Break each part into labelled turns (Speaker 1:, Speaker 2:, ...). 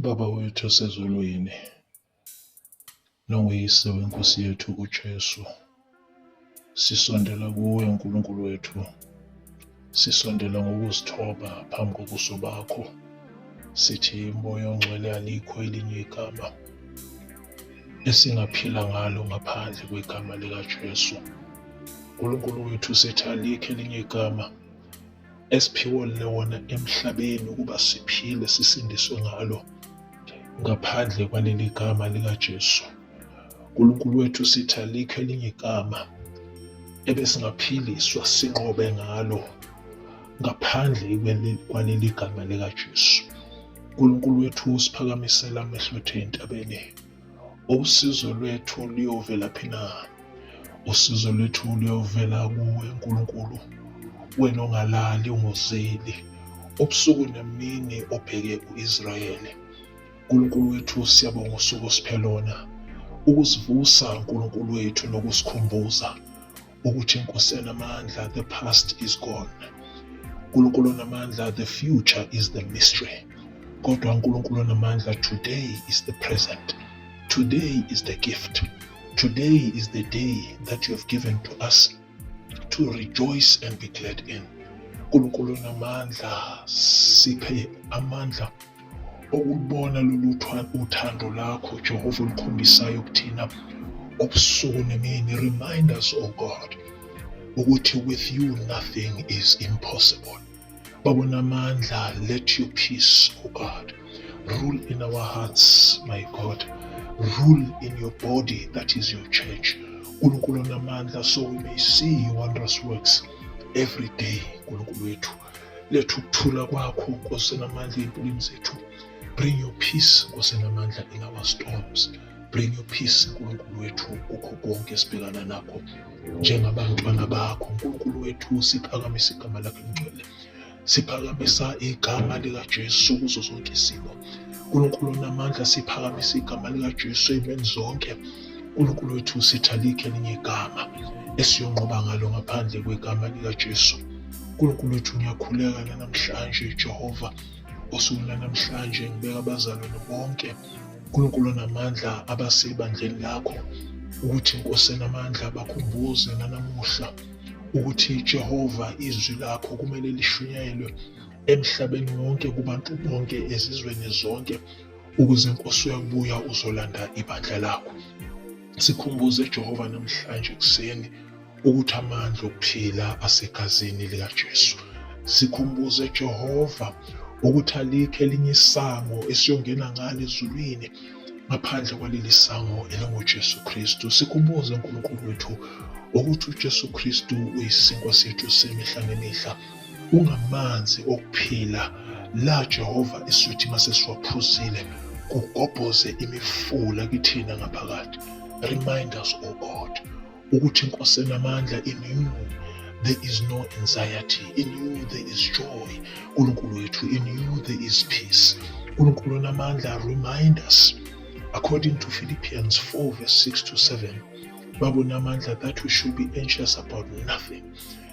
Speaker 1: Baba wethu osezulwini, nonguyise weNkosi yethu uJesu, sisondela kuwe uNkulunkulu wethu, sisondela ngokuzithoba phambi kobuso bakho, sithi moya ongcwele alikho elinye igama esingaphila ngalo ngaphandle kwegama likaJesu. Nkulunkulu wethu sithi alikho elinye igama esiphiwe lona emhlabeni ukuba siphile sisindiswe ngalo ngaphandle kwaleli gama likaJesu. Nkulunkulu wethu sithi alikho elinye igama ebesingaphiliswa sinqobe ngalo ngaphandle kwaleli gama likaJesu. Nkulunkulu wethu usiphakamisela amehlo ethu entabeni. Usizo lwethu luyovela phi na? Usizo lwethu luyovela kuwe Nkulunkulu, wena ongalali ungozeli, ubusuku nemini obheke u-Israyeli. Nkulunkulu wethu, siyabonga usuku osiphe lona, ukusivusa Nkulunkulu wethu nokusikhumbuza ukuthi inkosi enamandla the past is gone uNkulunkulu onamandla the future is the mystery kodwa uNkulunkulu onamandla today is the present today is the gift today is the day that you have given to us to rejoice and be glad in uNkulunkulu onamandla siphe amandla Ukulubona lolu uthando lakho Jehova olukhombisayo kuthina ubusuku nemini remind us oh God ukuthi with you nothing is impossible. Babona amandla let your peace oh God rule in our hearts my God rule in your body that is your church. Nkulunkulu onamandla so we may see your wondrous works every day Nkulunkulu wethu. Letha ukuthula kwakho Nkosi enamandla ey'mpilweni zethu. Bring your peace Nkosi enamandla in our storms. Bring your peace Nkulunkulu wethu kukho konke esibhekana nakho njengabantwana bakho. Nkulunkulu wethu siphakamisa igama lakho elingcwele. Siphakamisa igama likaJesu kuzo zonke izimo. Nkulunkulu onamandla siphakamisa igama likaJesu ey'meni zonke. uNkulunkulu wethu usitha likhe elinye igama esiyonqoba ngalo ngaphandle kwegama likaJesu. uNkulunkulu wethu ngiyakhuleka nanamhlanje Jehova osuku lanamhlanje ngibeka abazalwane bonke uNkulunkulu onamandla abasebandleni lakho ukuthi inkosi enamandla bakhumbuze nanamuhla ukuthi Jehova izwi lakho kumele lishunyayelwe emhlabeni wonke kubantu bonke ezizweni zonke ukuze inkosi uyabuya uzolanda ibandla lakho. Sikhumbuze Jehova namhlanje ekuseni ukuthi amandla okuphila asegazini likaJesu. Sikhumbuze Jehova ukuthi alikho elinye isango esiyongena ngalo ezulwini ngaphandle kwaleli sango elinguJesu Kristu. Sikhumbuze uNkulunkulu wethu ukuthi uJesu Kristu uyisinkwa sethu semihla ngemihla. Ungamanzi okuphila la Jehova isuthi masesiwaphuzile kugobhoze imifula kithina ngaphakathi. Remind us, O God, ukuthi inkosi enamandla in you there is no anxiety in you there is joy uNkulunkulu wethu in you there is peace uNkulunkulu onamandla remind us according to Philippians 4 verse 6 to 7 babona amandla that we should be anxious about nothing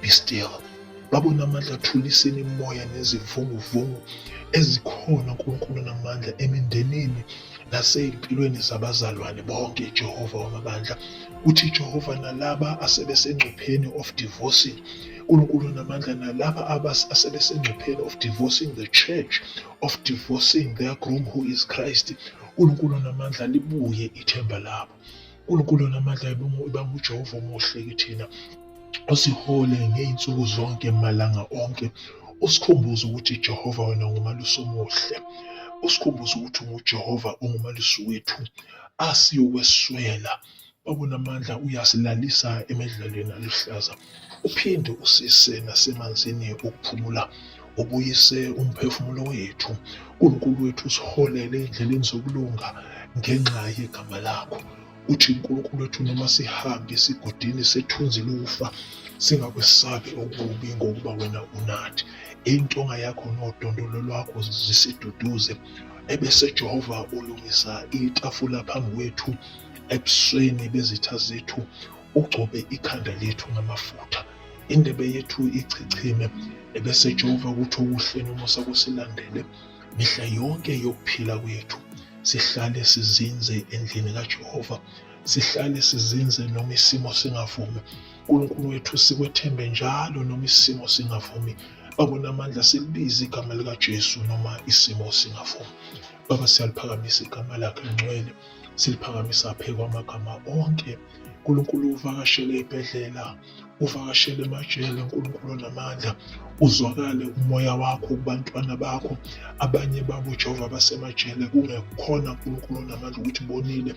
Speaker 1: Be still. Babona amandla athuliseni imoya nezivunguvungu ezikhona uNkulunkulu namandla emindenini nasey'mpilweni zabazalwane bonke Jehova wamabandla. Uthi Jehova nalaba asebesengcupheni of divorcing uNkulunkulu namandla nalaba asebesengcupheni of divorcing the church of divorcing their groom who is Christ uNkulunkulu namandla libuye ithemba labo. uNkulunkulu onamandla ibanga uJehova omuhle kithina osihole ngey'nsuku zonke malanga onke usikhumbuze ukuthi Jehova wena ngumalusi omuhle usikhumbuze ukuthi unguJehova ungumalusi wethu asiyokweswela obunamandla uyasilalisa emidlalweni aluhlaza uphinde usise nasemanzini okuphumula ubuyise umphefumulo wethu. Nkulunkulu wethu usiholele endleleni zokulunga ngenxa yegama lakho. Uthi Nkulunkulu wethu noma sihambe esigodini sethunzi lokufa singakwesabi okubi ngokuba wena unathi. Intonga yakho nodondolo lwakho zisiduduze. Ebese Jehova ulungisa itafula phambi kwethu ebusweni bezitha zethu. Ugcobe ikhanda lethu ngamafutha, indebe yethu ichichime, ebese ejova ukuthi okuhle nomusa kusilandele mihla yonke yokuphila kwethu. Sihlale sizinze endlini kaJehova, sihlale sizinze noma isimo singavumi. uNkulunkulu wethu sikwethembe njalo noma isimo singavumi. Babona amandla silibize igama likaJesu noma isimo singavumi. Baba siyaliphakamisa igama lakhe lingcwele, siliphakamisa phezu kwamagama onke. uNkulunkulu uvakashele ibhedlela uvakashele emajele uNkulunkulu onamandla uzwakale umoya wakho kubantwana bakho abanye babo Jehova basemajele kungekhona uNkulunkulu onamandla ukuthi bonile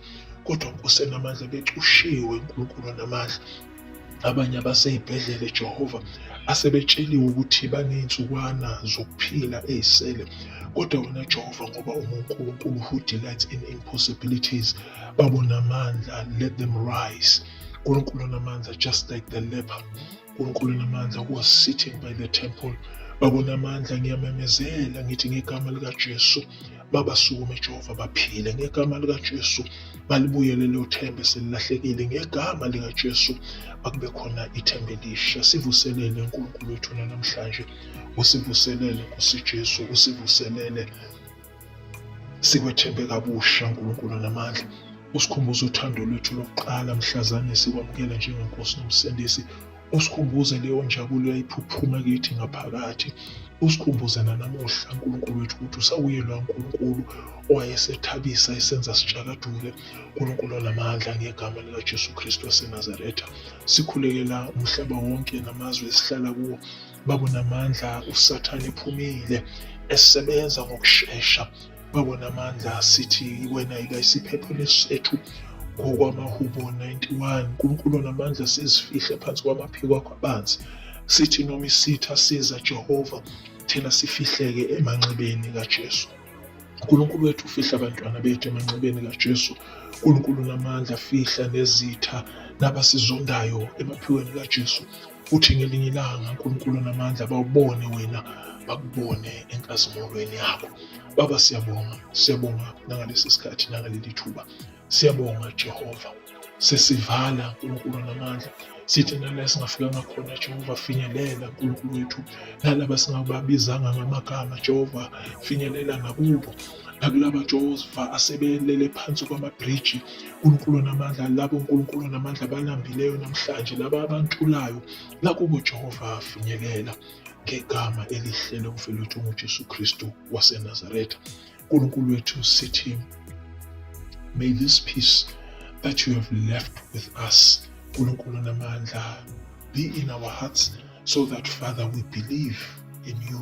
Speaker 1: kodwa Nkosi enamandla becushiwe uNkulunkulu onamandla abanye abaseyibhedlele Jehova asebetsheliwe ukuthi baney'nsukwana zokuphila ey'sele kodwa wena Jehova ngoba unguNkulunkulu who delights in impossibilities babonamandla let them rise uNkulunkulu namandla just like the leper uNkulunkulu namandla was sitting by the temple babona amandla ngiyamemezela ngithi ngegama likaJesu babasukume Jehova baphile ngegama likaJesu balibuyele lelo themba selilahlekile ngegama likaJesu akube khona ithemba elisha sivuselele uNkulunkulu wethu namhlanje usivuselele nkosi Jesu usivuselele Sikwethembe kabusha uNkulunkulu namandla. Usikhumbuze uthando lwethu lokuqala mhlazane sikwamukela njengeNkosi noMsindisi. Usikhumbuze leyo njabulo yayiphuphuma kithi ngaphakathi. Usikhumbuze nanamuhla uNkulunkulu wethu ukuthi usawuye loya Nkulunkulu owayesethabisa esenza sitshakadule. Nkulunkulu onamandla ngegama likaJesu Kristu waseNazaretha. Sikhulekela umhlaba wonke namazwe esihlala kuwo. babonamandla usathane ephumile esebenza ngokushesha babonamandla sithi wena yika isiphepho lesethu ngokwamahubo 91 unkulunkulu onamandla sizifihle phansi kwamaphiko akho abanzi sithi noma isitha siza jehova thina sifihleke emanxebeni kajesu uNkulunkulu wethu ufihla abantwana bethu emanxebeni kaJesu. uNkulunkulu namandla fihla nezitha nabasizondayo emaphiweni kaJesu. Futhi ngelinye ilanga uNkulunkulu onamandla bawubone wena bakubone enkazimulweni yakho. Baba siyabonga, siyabonga nangalesi sikhathi nangaleli thuba. Siyabonga Jehova. Sesivala uNkulunkulu onamandla. Sithi nala singafikanga khona Jehova finyelela uNkulunkulu wethu. Nalaba singababizanga ngamagama Jehova finyelela nakubo. nakula maJehova asebelele phansi kwamabhriji uNkulunkulu onamandla labo uNkulunkulu onamandla abalambileyo namhlanje laba abantulayo nakubo uJehova afinyelela ngegama elihle lomfelo wethu unguJesu Kristu waseNazaretha uNkulunkulu wethu sithi may this peace that you have left with us uNkulunkulu onamandla be in our hearts so that father we believe in you